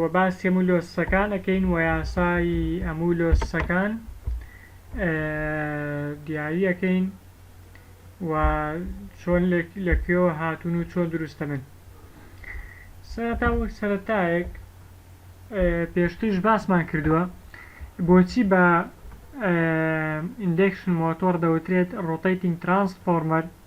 وە باسی هەموو لۆسسەکان ئەکەین وە یاسای هەموو لۆسسەکان دیاری ئەکەین و چۆن لە کوێوە هاتون و چۆن دروستەبن سەرەتا وەک سەرەتایەک پێشترش باسمان کردووە بۆچی بە ئیندێکشن مۆتۆر دەوترێت ڕۆتەیتنگ ترانسفۆرمەر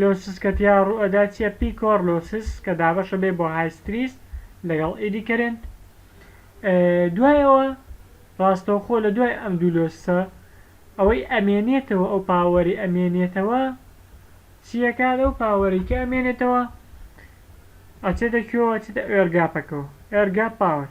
لۆسس کە تێیا ڕووئەدا چیە پیکۆر لۆسس کە دابەشە بێ بۆ هایستریس لەگەڵ ئیدی کەرێنت دوای ئەوە ڕاستەوخۆ لە دوای ئەم دوو لۆسسە ئەوەی ئەمێنێتەوە ئەو پاوەری ئەمێنێتەوە چیە کات ئەو پاوەری کە ئەمێنێتەوە ئەچێتە کوێوە ئەچێتە ئێرگاپەکەوە ئێرگاپ پاوەر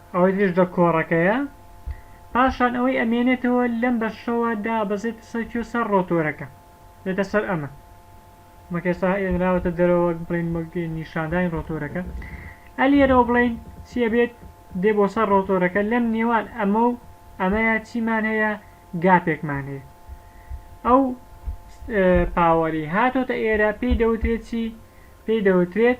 ئەوەی تریش دە کۆڕەکەیە. پاشان ئەوەی ئەمێنێتەوە لەم بەشەوە دابەزێتە سەر کوێ سەر ڕۆتۆرەکە دێتە سەر ئەمە وەک ئێستا هێنراوەتە دەرەوە وەک بڵێین وەک نیشاندانی ڕۆتۆرەکە ئە لێرەوە بڵێین چی ئەبێت دێ بۆ سەر ڕۆتۆرەکە لەم نێوان ئەمە و ئەمەیە چیمان هەیە گاپێکمان هەیە ئەو پاوەری هاتۆتە ئێرە پێی دەوترێت چی پێی دەوترێت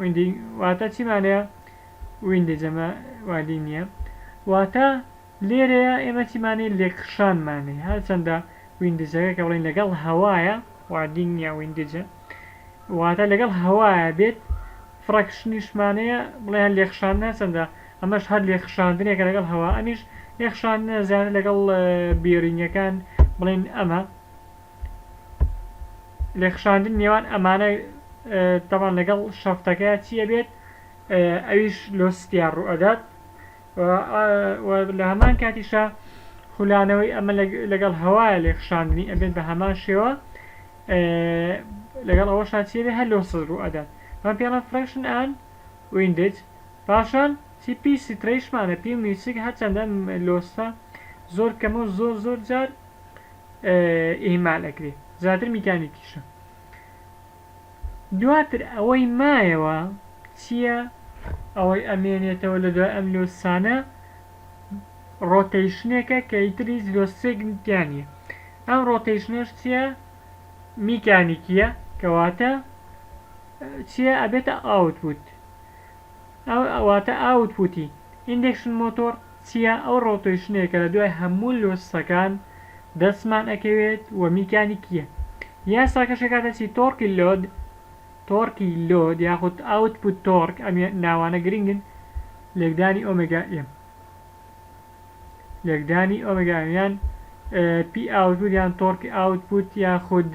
ویندی واتا چی مانەیە ویندی جەمە وادی نییە واتا لێرەیە ئێمە چیمانەی لێکخشانمانەی هەرچەندە ویندجەکە کە بڵین لەگەڵ هەوایە وادی نییە ویندجە واتە لەگەڵ هەوایە بێت فڕەکشنیشمانەیە بڵێ هەر لێخشان نەچەندە ئەمەش هەر لێخشاندنێکە لەگەڵ هەوا ئەمیش لێخشان زیاتر لەگەڵ بێرینگەکان بڵێن ئەمە لێکخشاندن نێوان ئەمانە تەبان لەگەڵ شەفتەکە چی ئەبێت ئەویش لۆ ستیا ڕوو ئەدات لە هەمان کاتیشە خولانەوەی ئەمە لەگەڵ هەوایە لێکخشاندنی ئەبێت بە هەمان شێوە لەگەڵ ئەوە شاچێبێ هەر لۆ سەد ڕوو ئەدات من پێڵە فرەشن ئەن ویندج پاشان چی پی سترەیشمانە پی میوسیک هەرچەندە لۆستە زۆر کەمە و زۆر زۆر جار ئیهمال ئەکرێ زیاتر میکانیکیشە دواتر ئەوەی مایەوە چییە ئەوەی ئەمێنێتەوە لە دوای ئەم لۆسانە ڕۆتەیشنێکە کە ئیتر هیچ لۆسێک تیا نییە ئەم ڕۆتەیشنەش چییە میکانیکیە کەواتە چییە ئەبێتە ئاوتبووت ئەو واتە ئاوت پوتی. ئیندەکشن مۆتۆڕ چیە ئەو ڕۆتەیشنەیە کە لە دوای هەموو لۆسسەکان دەستمان ئەکەوێت و میکانیکیە یاساکەش ئەکاتە چی تۆڕکی لۆد تۆڕکی لۆد یاخود ئاوت پوت تۆڕک ئەم ناوانە گرنگن لێکدانی ئۆمێگا ئێم لێکدانی ئۆمێگا ئێم یان پی ئاوت پوت یان تۆڕکی ئاوت پوت یاخود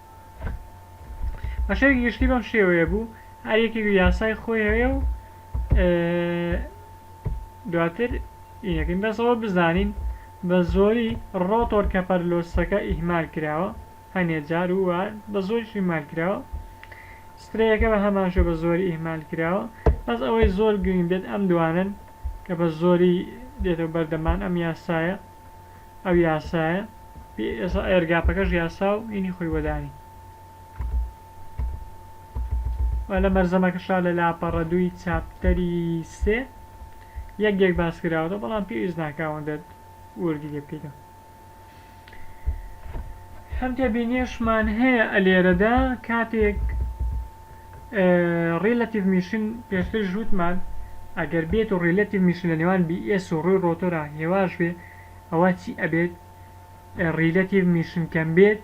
بە شێوەی گشتی بەم شێوەیە بوو هەر یەکێک و یاسای خۆی هەیە و دواتر یەکەین بەسەوە بزانین بە زۆری ڕۆتۆر کە پەرلۆسەکە ئیهمال کراوە هەنێ جار و بە زۆری شیمال کراوە سترەیەەکە بە هەماشە بە زۆری ئیهمال کراوە بەس ئەوەی زۆر گرنگ بێت ئەم دوانن کە بە زۆری دێتە بەردەمان ئەم یاسایە ئەو یاسایە ئێسا ئێرگاپەکەش یاسا و ئینی خۆی وەدانی لە مەرزەمەکەشا لە لاپەڕە دووی چاپتەری سێ یەک یەک باس کراوەتە بەڵام پێویست ناکاوە دەت وردی لێ بکەیتەوە هەم تێبینیشمان هەیە ئەلێرەدا کاتێک ڕیلەتیڤ میشن پێشتریش وتمان ئەگەر بێت و ڕیلەتیڤ میشن لە نێوان بی ئێس و ڕووی ڕۆتۆرا هێواش بێ ئەوا چی ئەبێت ڕیلەتیڤ میشن کەم بێت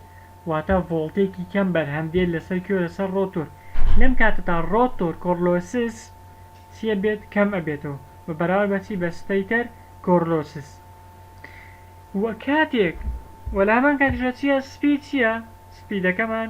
واتا ڤۆڵتێکی کەم بەرهەم دێت لەسەر کێو لەسەر ڕۆتۆر لەم کاتەدا ڕۆتۆر کۆرلۆسس چی ئەبێت کەم ئەبێتەوە بە بەراورد بە چی بە ستەیتەر کۆرلۆسس و کاتێک وە لە هەمان کاتیشدا چیە سپی چیە سپیدەکەمان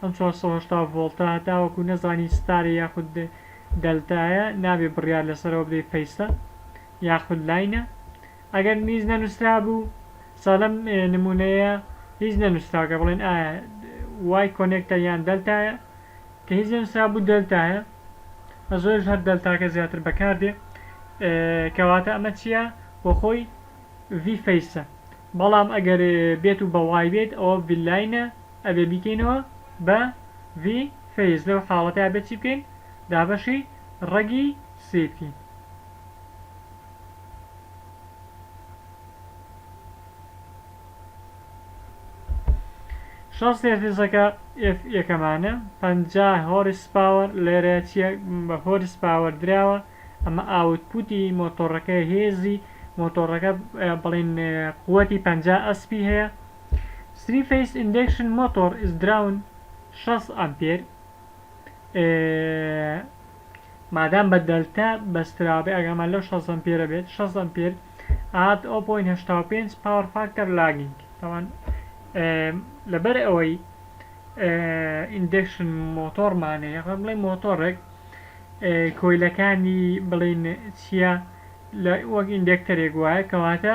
ئەم چوار سەد و هەشتا ڤۆڵتە هەتاوەکو نەزانی ستارە یاخود دەلتایە نابێ بڕیار لەسەرەوە بدەی پەیستە یاخود لاینە ئەگەر هیچ نەنووسرابوو سا لەم نمونەیە هیچ نەنووسراکە بڵێن ئایا وای کۆنێکتە یان دەلتایە کە هیچ نەنووسرابوو دەلتایە زۆرش هەر دەلتاکە زیاتر بەکاردێ کەواتە ئەمە چییە بۆ خۆی ڤی فەیسە بەڵام ئەگەر بێت و بەوای بێت ئەوە ڤیلاینە ئەبێ بیکەینەوە بە ڤی فەیس لەو حاڵەتەیا بێ چی بکەین دابەشی ڕەگی سی بکەین. شەست هێرتزەکە ئێف یەکەمانە پەنجا هۆرس پاوەر لێرە چیە بە هۆرس پاوەر دراوە ئەمە ئاوت پوتی مۆتۆڕەکەیە هێزی مۆتۆڕەکە بڵێن قوەتی پەنجا ئەسپی هەیە 3-Phase Induction Motor is Drawn 60 ئەمپێر مادام بە دەلتا بەسترابێ ئەگەرمان لەو 60 ئەمپێرە بێت 60 ئەمپێر ئات 0.85 پاوەر فاکتەر لاگینگ تاوان لەبەر ئەوەی ئیندەکشن مۆتۆرمانەیە خۆ بڵێ مۆتۆڕێک کۆیلەکانی بڵین چییە لە وەک ئیندێکتەرێک وایە کەواتە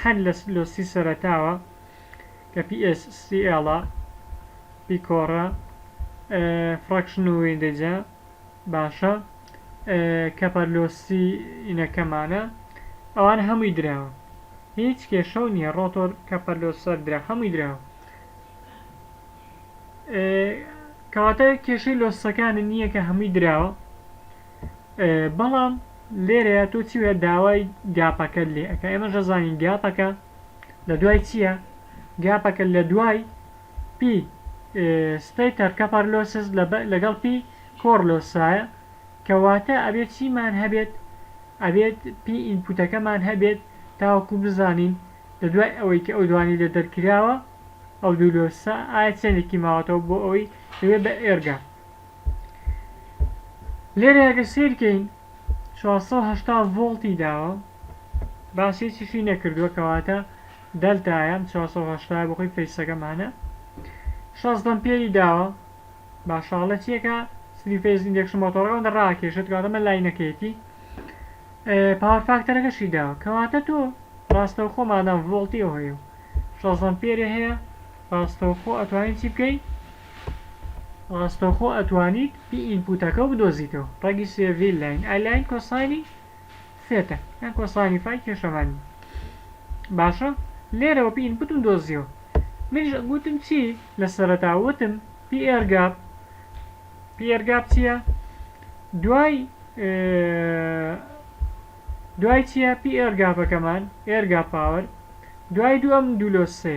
هەر لە لۆسی سەرەتاوە کە پی ئێس سی ئێڵە، پیکۆڕە، فڕەکشن و ویندەجە باشە کە پەر لۆسی ینەکەمانە ئەوانە هەمووی دراوە هیچ کێشەو نیە ڕۆتۆر کە پەر لۆسەر درا هەمووی دراوە کەواتە کێشەی لۆسەکانە نیە کە هەمووی دراوە. بەڵام لێرەیە تۆ چی وە داوای گاپەکەت لێ ئەەکە ئێمەش دەزانین گاپەکە لە دوای چییە گاپەکە لە دوای پی سپی تەرکەپەر لۆسز لەگەڵ پی کۆڕ لۆسایە کەواتە ئەبێت چیمان هەبێت ئەبێت پی ئینپوتەکەمان هەبێت تاوەکو بزانین لە دوای ئەوەی کە ئەو دوانی لە دەرکراوە ئەو دوولۆسا ئایا چێنێکی ماوەتەوە بۆ ئەوەی دەبێت بە ئێرگا لێرە ئەگەر سیر کەین 480 ڤۆڵتی داوە باس هیچیشی نەکردووە کەواتە دەلتایە 480 بەخۆی فەیسەکەمانە 16 ئەمپێری داوە باشاڵە چیەکە سری فەیز ئیندێکشن مۆتۆڕەوە ڕاکێشێت کاتەمە لاینەکەیەتی پاوەر فاکتەرەکەشی داوە کەواتە تۆ ڕاستەوخۆ مادام ڤۆڵتی ئەوهەیە 16 ئەمپێری هەیە ڕاستەوخۆ ئەتوانین چی بکەین ڕاستەوخۆ ئەتوانیت پی ئینپوتەکەو بدۆزیتەوە ڕەگی سێ ڤی لاین ئای لاین کۆساینی سێتە یان کۆساینی فای کێشەمان نیە باشە لێرەوە پی ئینپوتم دۆزیەوە منیش گوتم چی لە سەرەتا وتم پی ئێر گاپ پی ئێر گاپ چیە دوای دوای چیە پی ئێر گاپەکەمان ئێر گاپ پاوەر دوای دوو ئەم دوو لۆ سێ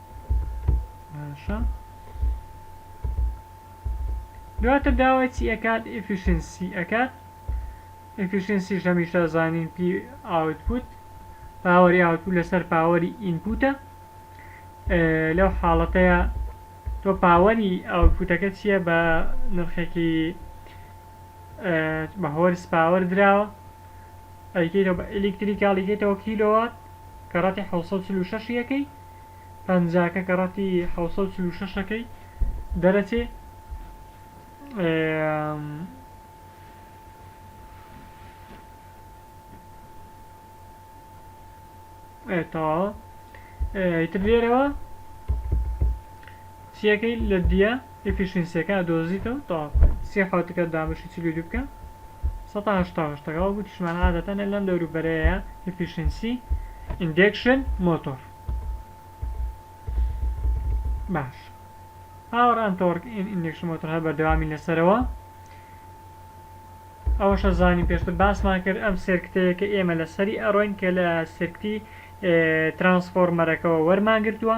باشە دواتر داوای چی ئەکات ئفیشنسی ئەکات ئفیشنسی هەمیشە زانین پی ئاوتپوت پاوەری ئاوتپوت لەسەر پاوەری ئینپوتە لەو حاڵەتەیە تۆ پاوەری ئاوتپوتەکە چییە بە نرخێکی بە هۆرس پاوەر دراوە ئەیکەیتەوە بە ئەلکتریکاڵیکەیتەوە کیلۆوات کە ڕەتی 646 یەکەی پەنجاکە کە ڕەتی حەوت سەد و چل و شەشەکەی دەرەچێ تەواوە ئیتر لێرەوە چیەکەی لە دیە ی فیشنگ سێکە ئەدۆزیتەوە تەواو سی حەوت تکە دابەشی چل و دوو بکە سەد و هەشتا و هەشت تەکە وەک وتیشمان عادەتەن ئە لەم دەورو بەرەیە ئیفیشنسی ئیندێکشن مۆتۆر باش پاوەر ئەن تۆرک ئین ئیندێکشن مۆتۆر هەر بەردەوامی لەسەرەوە ئەوەشە زانی پێشتر باسمان کرد ئەم سێرکتەیە کە ئێمە لە سەری ئەڕۆین کە لە سرکتی ترانسفۆرمەرەکەەوە وەرمانگرتووە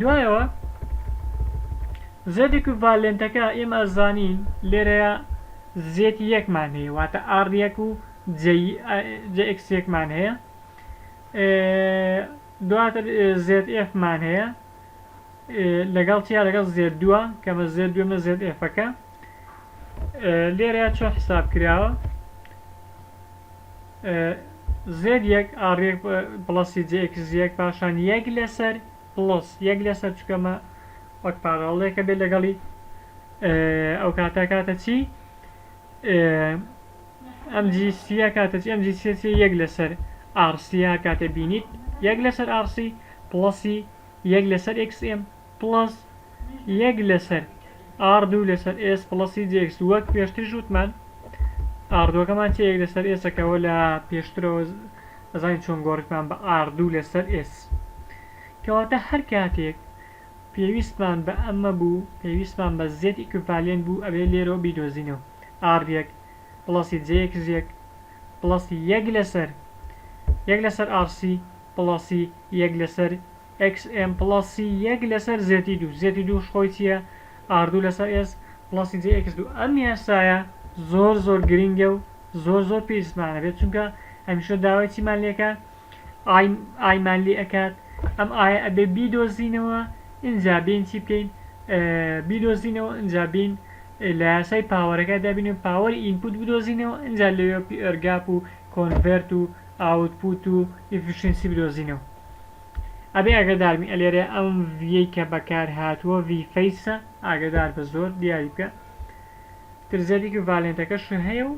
دوایەوە زێد ئیکوڤالێنتەکە ئێمە ئەزانین لێرەیا زێد یەک مان هەیە واتە ئاڕ یەک و جە ئێکس یەک مان هەیە دواتر زێد ئێف مان هەیە لەگەڵ چیا لەگەڵ زێد دووە کەمە زێد دوێمە زێد ئێفەکە لێرە چۆن حساب کراوە زێد یەک ئاڕێک پڵەسی جێکس یەک پاشان یەک لەسەر پڵس یەک لەسەر چکەمە وەک پاراڵێکە بێت لەگەڵی ئەو کاتە کاتە چی ئەم جیسیە کاتە ئەم جیسیە یەک لەسەر ئارسیە کاتە بینیت یەک لەسەر ئارسی پڵسی یەک لەسەر XM پڵەس یەک لەسەر ئاڕ دوو لەسەر ئێس پڵەس سی جی ئێکس وەک پێشتریش وتمان ئاڕ دووەکەمان چیە یەک لەسەر ئێسەکەوە لە پێشترەوە ئەزانین چۆن گۆڕیمان بە ئاڕ دوو لەسەر ئێس کەواتە هەر کاتێک پێویستمان بە ئەمە بوو پێویستمان بە زێد ئیکویڤالێنت بوو ئەبێ لێرەوە بیدۆزینەوە ئاڕ یەک پڵەسی جی ئێکس یەک پڵەسی یەک لەسەر یەک لەسەر ئاڕ سی پڵەسی یەک لەسەر XM پڵەس سی یەک لەسەر زێتی دوو زێتی دووش خۆی چیە ئاردوو لەسەر ئێس پڵەسی جێ ئێکس دوو ئەم یاسایە زۆر زۆر گرینگە و زۆر زۆر پێویستمانە بێت چونکە هەمیشە داوای چیمان لێکە ئای ئایمان لێ ئەکات ئەم ئایە ئەبێ بیدۆزینەوە ئینجا بین چی بکەین بیدۆزینەوە ئینجا بین لە یاسای پاوەرەکە دابین و پاوەری ئینپوت بدۆزینەوە ئینجا لەوێ پی ئەرگاپ و کۆنڤێرت و ئاوت پوت و ئیفیشینسی بدۆزینەوە ئەبێ ئاگادار بین ئەلێرێ ئەم ڤیەی کە بەکار هاتووە ڤی فەیسە ئاگادار بە زۆر دیاری بکە تر زیادی کە ڤالێنتەکەش هەیە و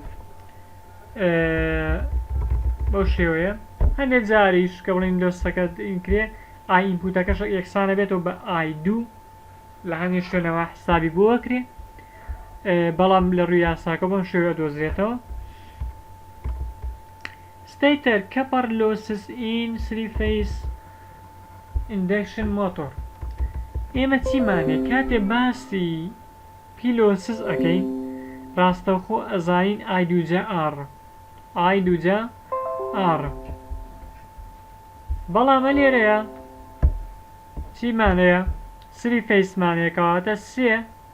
بەو شێوەیە هەندێک جاریش کە بڵین دۆستەکە کرێ ئای ئینپوتەکەش یەکسانە بێتەوە بە ئای دوو لە هەندێک شوێنەوە حسابی بۆ کرێ بەڵام لە ڕووی یاساکە بۆم شێوە دۆزرێتەوە ستەیتەر کەپەڕ لۆسس ئین سری فەیس ئیندەکشن مۆتۆر ئێمە چیمان هەیە کاتێ باسی پی لۆسس ئەکەین ڕاستەوخۆ ئەزانین ئای دووجا ئاڕ ئای دووجا ئاڕ بەڵام ئەلێرەیا چیمان هەیە سری فەیسمان هەیە کەواتە سێ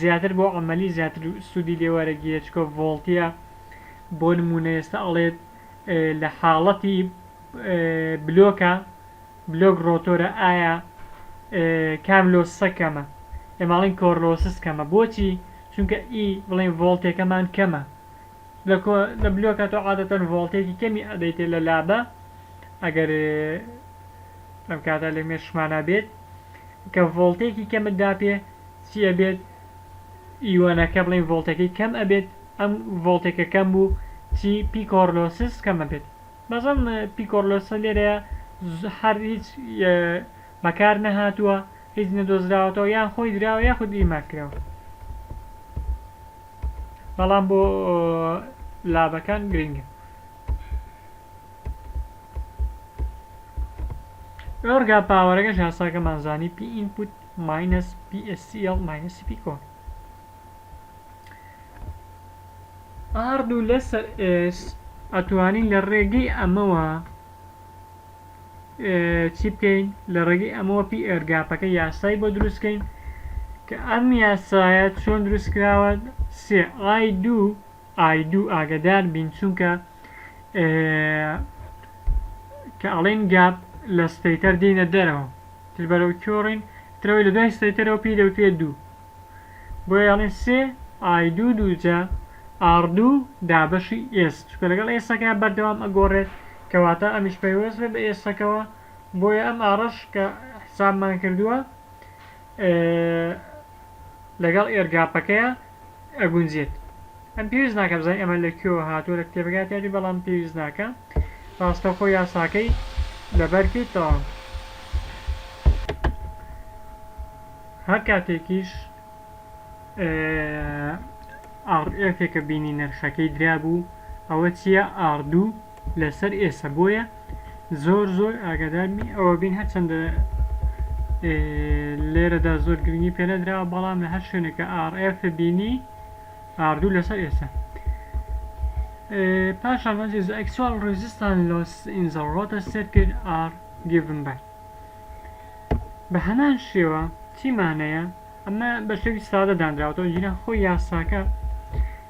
زیاتر بۆ عەمەلی زیاتر سوودی لێ وەرەگیرێت چونکە ڤۆڵتیە بۆ نموونە ئێستا ئەڵێت لە حاڵەتی بلۆکە بلۆک ڕۆتۆرە ئایا کام لۆسسە کەمە ئێماڵین کۆرلۆسس کەمە بۆچی چونکە ئی بڵێن ڤۆڵتێکەمان کەمە لە بلۆکە تۆ عادەتەن ڤۆڵتێکی کەمی ئەدەیتێ لە لابە ئەگەر ئەم کاتە لە مێشمانە بێت کە ڤۆڵتێکی کەمت داپێ چی ئەبێت ئیۆنەکە بڵێن ڤۆڵتەکەی کەم ئەبێت ئەم ڤۆڵتێکە کەم بوو چی پیکۆرلۆسس کەمە بێت بەزم پیکۆرلۆسە لێرەیە هەر هیچ بەکار نەهاتووە هیچ نەدۆزراوەتەوە یان خۆی دراوە یاخود ئیما کراوە بەڵام بۆ لابەکان گرنگە ئۆرگا پاوەرەکەش یاساکەمان زانی پی ئینپوت ماینەس پی ئێس سی ئێڵ ماینەس سی پی کۆن ئاڕ دوو لەسەر ئێس ئەتوانین لە ڕێگەی ئەمەوە چی بکەین لە ڕێگەی ئەمەوە پی ئێرگاپەکە یاسای بۆ دروستکەین کە ئەم یاسایە چۆن دروستکراوە سێ ئای دوو ئای دوو ئاگدار بین چونکە کە ئەڵین گاپ لە ستەیتەر دینە دەرەوە تر بەرەو کۆڕین ترەوەی لە دوای ستەیتەرەوە پێی دەوتێ دوو بۆ یاڵین سێ ئای دوو دووجا ئاڕدوو دابەشی ئێس چکە لەگەڵ ئێسەکە بەردەوام ئەگۆڕێت کەواتە ئەمیش پەیوەست بە ئێسەکەوە بۆیە ئەم ئاڕش کە حسابمان کردووە لەگەڵ ئێرگاپەکەیا ئەگونجێت ئەم پێویست ناکە بزانین ئەمە لە کوێوە هاتووە لە کتێبەکەیا تیادی بەڵام پێویست ناکە ڕاستەوخۆ یاساکەی لەبەر کردەوە هەر کاتێکیش ئاڕ ئێفێکە بینی نرخەکەی درابوو ئەوە چییە ئاڕدوو لەسەر ئێسە بۆیە زۆر زۆر ئاگادارمی ئەوە بین هەرچەندە لێرەدا زۆر گرنگی پێ نەدراوە بەڵام لە هەر شوێنێکە RF بینی ئاردوو لەسەر ئێسە پاشان وەنجی زە ئەکسوال ڕێزیستان لۆس ئینزە ڕۆتە سێرکرد ئار گیڤن بای بە هەمان شێوە چیمانەیە ئەمە بە شێوی سادە دانراوەتەوە جیران خۆی یاساکە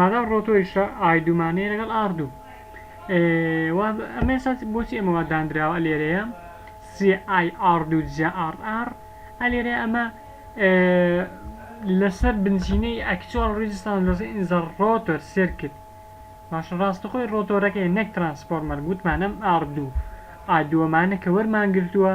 مادام ڕۆتۆی شە ئای دوومانەیە لەگەڵ ئاڕ دوو ئێ وا ئەمە ئێستا بۆچی ئەمە وا داندراوە لێرەیە سێ ئای ئاڕ دوو جیا ئاڕ ئاڕ ئە لێرەیە ئەمە لەسەر بنچینەی ئەکچوال ڕیجستان لەسەر ئینزە ڕۆتۆر سێرکت باشە ڕاستەخۆی ڕۆتۆرەکەی نەک ترانسفۆرمەر گوتمان ئەم ئاڕ دوو ئا دووەمانە کە وەرمان گرتووە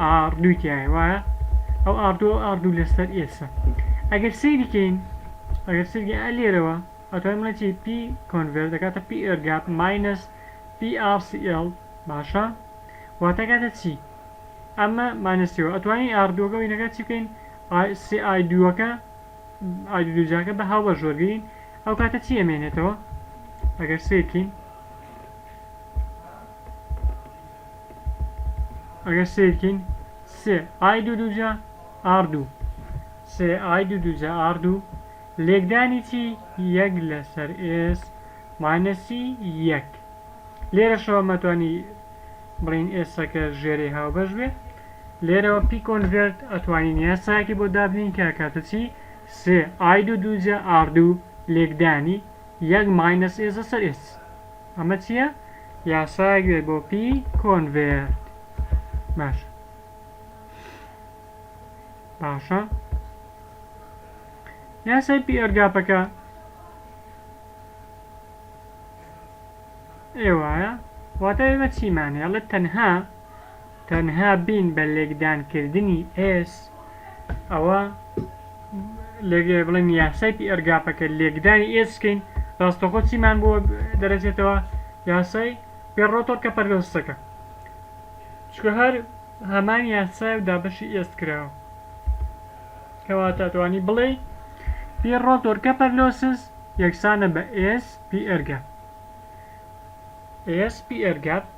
ئاڕدووی تیایە وایە ئەو ئاڕدووە ئەو ئاڕدوو لەسەر ئێسە ئەگەر سەیری کەین ئەگەر سەیری ئا لێرەوە ئەتوانین بڵێین چی پی کۆنڤێرت دەکاتە پی ئێرگاپ ماینەس پی ئاڕ سی ئێڵ باشە واتە کاتە چی ئەمە مانەسیەوە ئەتوانین ئاڕدووەکە وینەکە چی بکەین سی ئای دووەکە ئای دوو دووجاکە بە هاوبەش وەرگین ئەو کاتە چی ئەمێنێتەوە ئەگەر سیرکین ئەگەر سەیر کەین سێ ئای دوو دووجا ئاڕ دوو سێ ئای دوو دووجا ئاڕ دوو لێکدانی چی یەک لەسەر ئێس ماینەسی یەک لێرەشەوە مەتوانی بڵین ئێسەکە ژێری هاوبەش بێ لێرەوە پی کۆنڤێرت ئەتوانین یاسایەکی بۆ دابنین کە کاتە چی سێ ئای دوو دووجا ئاڕ دوو لێکدانی یەک ماینەس ئێس لەسەر ئێس ئەمە چیە یاسایەک بێت بۆ پی کۆنڤێرت باشە باشە یاسای پی ئەرگاپەکە ئێوایە واتە ئێمە چیمان هێڵێت تەنها تەنها بین بە لێکدان کردنی ئێس ئەوە لێگێ بڵێن یاسای پی ئەرگاپەکە لێکدانی ئێس بکەین ڕاستەخۆ چیمان بۆ دەرەچێتەوە یاسای پێ ڕۆتۆر کە پەردەستەکە چکە هەر هەمان یاسای و دابەشی ئێس کراوە کەوا تاتوانی بڵێ پی ڕۆتۆر کە پەرلۆسز یەکسانە بە ئێس پی ئەرگا ئێس پی ئەرگات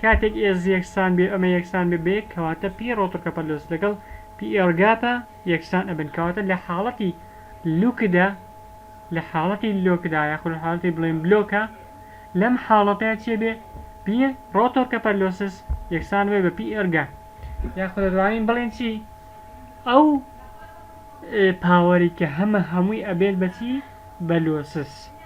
کاتێک ئێز یەکسان بێ ئەمە یەکسان بێ بە یەک کەواتە پی ڕۆتڕکەپەلۆس لەگەڵ پی ئێلگاتا یەکسان ئەبن کەواتە لە حاڵەتی لوکدا لە حاڵەتی لۆکدا یاخود لە حاڵەتی بڵێین بلۆکە لەم حاڵەتەیە چێ بێ پی ڕۆتۆرکەپەلۆسس یەکسان بێ بە پی ئێلگا یاخود دەتوانین بڵێن چی ئەو پاوەری کە هەمە هەمووی ئەبێت بەچی بە لۆسس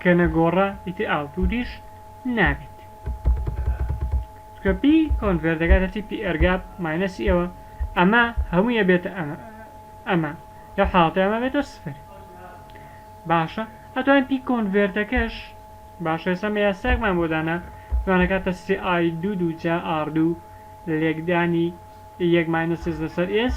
کە نەگۆڕا ئیتر ئاوتوریش نابیت چونکە پی کۆنڤێر دەگاتە تیپی ئێرگاپ ماینەسی ئەوە ئەمە هەموی ئەبێتە ئەمە ئەمە لەو حاڵەتە ئەمە بێتە سفر باشە ئەتوانین پی کۆنڤێرتەکەش باشە ئێستا مە یاساێکمان بۆ دانا توانەکاتە سی ئای دوو دوو جا ئاردوو لێکدانی یەک ماینەسیز لەسەر ئێس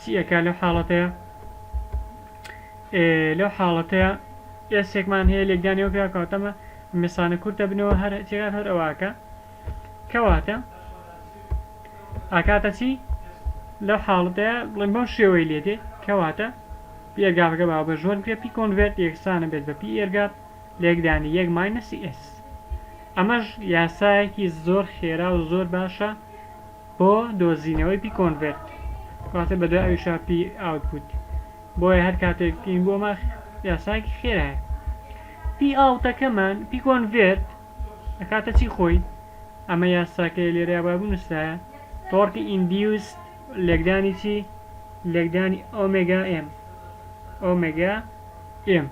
چی ئەکا لەو حاڵەتەیە لەو حاڵەتەیە ئێسێکمان هەیە لێکدانەوە پێ کاتەمە مەسانە کورتە بنەوە هەر جێگات هەر ئەوواکە کەواتە ئاکاتە چی لەو حاڵەتەیە بڵێن بەو شێوەی لێ دێ کەواتە پێگاغگە با بە ژۆن کرێ پی کۆنڤێت یەکسانە بێت بە پی ئێرگات لێکدانی یەک ماینەسی ئێس ئەمەش یاسایەکی زۆر خێرا و زۆر باشە بۆ دۆزینەوەی پی کۆنڤێرت واتە بەدوای ئەویشا پی ئاوتپوت بۆیە هەر کاتێک پین بۆ ماخ یاساکی خێرایە پی ئاوتەکەمان پی کۆنڤێرت ئەکاتە چی خۆی ئەمە یاساکەی لێرەیا بابوو نووسرایە تۆڕکی ئیندیوست لێکدانی چی لێکدانی ئۆمێگا ئێم ئۆمێگا ئێم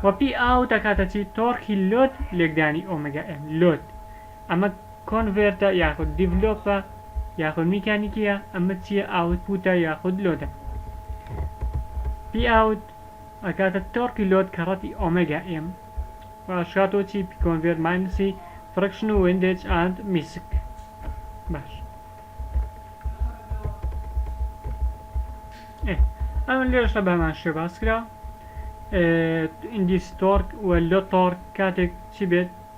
وەپی ئاو دەکاتە چی تۆڕکی لۆت لێکدانی ئۆمێگا ئێم لۆت ئەمە کۆنڤێرتە یاخود دیڤلۆپە یاخود میکانیکیە ئەمە چیە ئاوتپوتە یاخود لۆدە پی ئاوت ئەکاتە تۆرکی لۆد کە ڕەتی ئۆمێگا ئێم واشکاتۆ چی پی کۆنڤێرت ماینسی فرکشن و ویندێج ئاند میسک باش ئەم لێشە بەمان شێ باس کرا ئیندیس تۆرک و لۆ تۆرک کاتێک چی بێت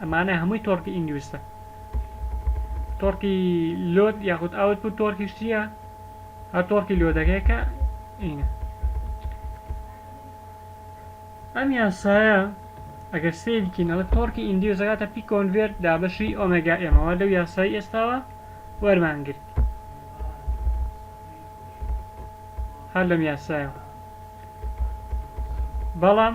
ئەمانە هەمووی تۆرکی ئینگویستە. تۆرکی لۆد یاخود ئاوت بوو تۆرکیش چییە هەر تۆرکی لۆدەکەی کە ئینە ئەم یاسایە ئەگەر سیرکینەوە تۆرکی ئیندیوزەکاتە پی کۆنڤێرت دابەشی ئۆمەگا ئێمەوە لەو یاسای ئێستاوە وەرمان گرت هەر لەم یاسایەوە بەڵام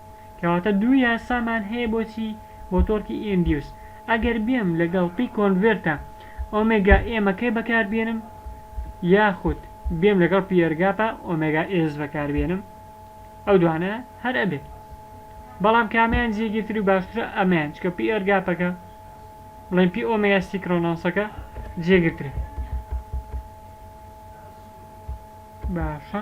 کەواتە دوو یاسامان هەیە بۆچی بۆ تۆرکی ئی ئیندیوس ئەگەر بێم لەگەڵ پی کۆنڤێرتە ئۆمێگا ئێمەکەی بەکاربێنم یاخود بێم لەگەڵ پیێرگاپە ئۆمێگا ئێس بەکاربێنم ئەو دوانە هەر ئەبێ بەڵام کامیان جێگیرتر و باشترە ئەمەیان چکە پیێرگاپەکە بڵێن پی ئۆمێگا سیکرۆنۆسەکە جێگرترە باشە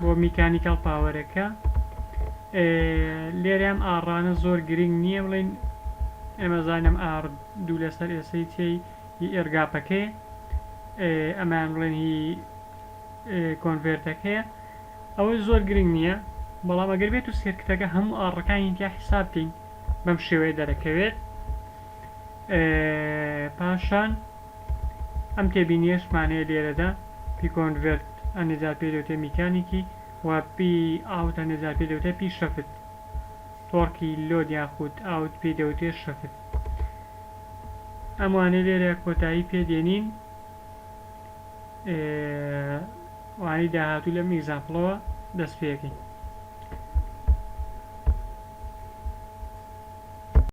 بۆ میکانیکاڵ پاوەرەکە لێرەم ئاڕانە زۆر گرنگ نییە بڵین ئەمەزانم ئار دوو لەسەر ئێسەی تێی هی ئێرگاپەکەی ئەمان بڵێن هی کۆنڤێرتەکەیە ئەوەی زۆر گرنگ نییە بەڵام ئەگەر بێت و سێرکتەکە هەموو ئاڕەکانی تیا حیساب بکەین بەم شێوەیە دەرەکەوێت پاشان ئەم تێبینییەشمانەیە لێرەدا پی کۆنڤێرت ە نزا پێی دەوترێت میکانیکی و پی ئاوت ە نزا پێی دەوترێت پی شەفت تۆڕکی لۆد یاخود ئاوت پێی دەوترێت شەفت ئەم وانەی لێرە کۆتایی پێ دێنین وانەی داهاتوو لەم ئیگزامپڵەوە دەست پێ ئەکەین